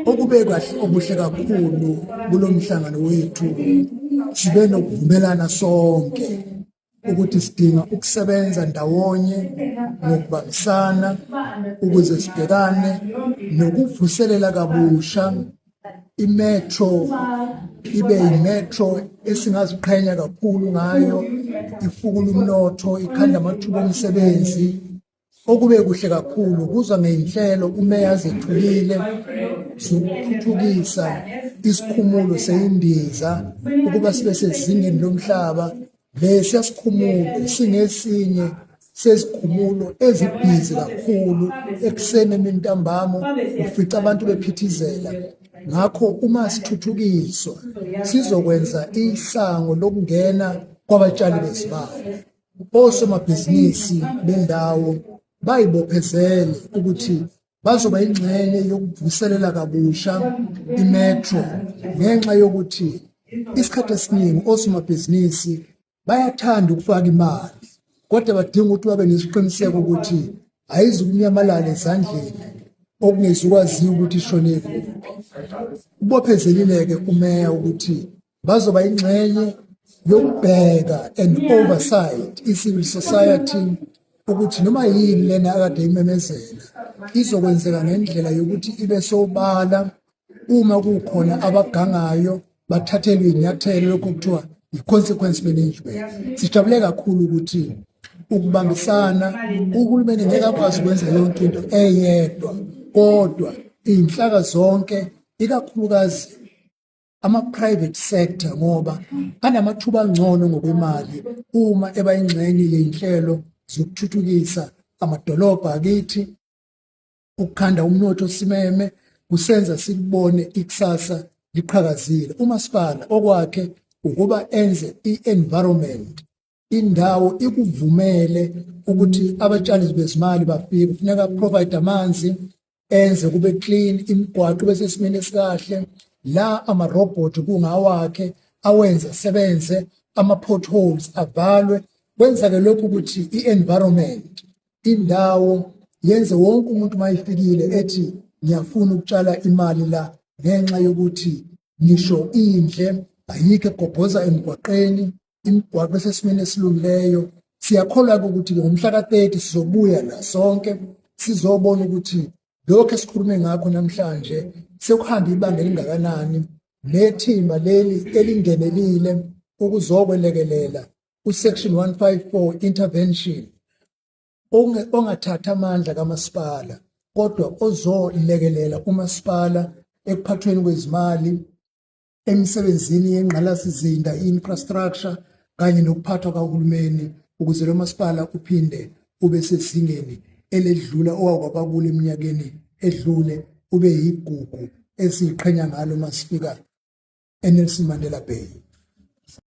Okube kahle okuhle kakhulu kulo mhlangano wethu sibe nokuvumelana sonke ukuthi sidinga ukusebenza ndawonye ngokubambisana ukuze sibhekane nokuvuselela kabusha imetro ibe yimetro esingaziqhenya kakhulu ngayo ifukula umnotho ikhanda amathuba omsebenzi Okube kuhle kakhulu kuza ngeyinhlelo umeya azethulile zokuthuthukisa isikhumulo seyindiza ukuba sibe sezingeni lomhlaba lesi asikhumulo singesinye sezikhumulo ezibhizi kakhulu ekuseni emini ntambama ufica abantu bephithizela ngakho uma sithuthukiswa sizokwenza isango lokungena kwabatshali bezibalo osomabhizinisi bendawo bayibophezele ukuthi bazoba ingxenye yokuvuselela kabusha imetro ngenxa yokuthi isikhathi esiningi osomabhizinisi bayathanda ukufaka imali kodwa badinga ukuthi babe nesiqiniseko ukuthi ayizukunyamalala ezandleni okungezukwaziwa ukuthi ishonephi ubophezelile-ke umeya ukuthi bazoba ingxenye yokubheka and oversight i-civil society ukuthi noma yini lena akade imemezela izokwenzeka ngendlela yokuthi ibe sobala uma kukhona abagangayo bathathelwe inyathelo lokho kuthiwa i-consequence management sijabule kakhulu ukuthi ukubambisana uhulumeni ngeke akwazi ukwenza yonke into eyedwa kodwa iy'nhlaka zonke ikakhulukazi ama-private sector ngoba anamathuba angcono ngokwemali uma eba ingxenye yey'nhlelo zokuthuthukisa amadolobha akithi ukukhanda umnotho simeme kusenza sikubone ikusasa liqhakazile umasipala okwakhe ukuba enze i-environment indawo ikuvumele ukuthi abatshali bezimali bafike kufuneka provide amanzi enze kube clean imigwaqo bese simene sikahle la ama robot kungawakhe awenze sebenze ama potholes avalwe kwenza ke lokhu ukuthi i environment indawo yenze wonke umuntu mayifikile ethi ngiyafuna ukutshala imali la ngenxa yokuthi ngisho indle ayikho egobhoza emgwaqeni imigwaqo esesimeni esilungileyo siyakholwa-ke ukuthi ngomhla ka-30 sizobuya la sonke sizobona ukuthi lokhu esikhulume ngakho namhlanje sekuhambe ibanga elingakanani nethimba leli elingenelile ukuzokwelekelela uSection 154 intervention ongathatha amandla kamasipala kodwa ozolekelela umasipala ekuphathweni kwezimali emisebenzini yengqalasizinda infrastructure kanye nokuphathwa kahulumeni ukuze lo masipala uphinde ube sezingeni eledlula owakwaba kulo eminyakeni edlule ube yigugu esiyiqhenya ngalo masifika eNelson Mandela Bay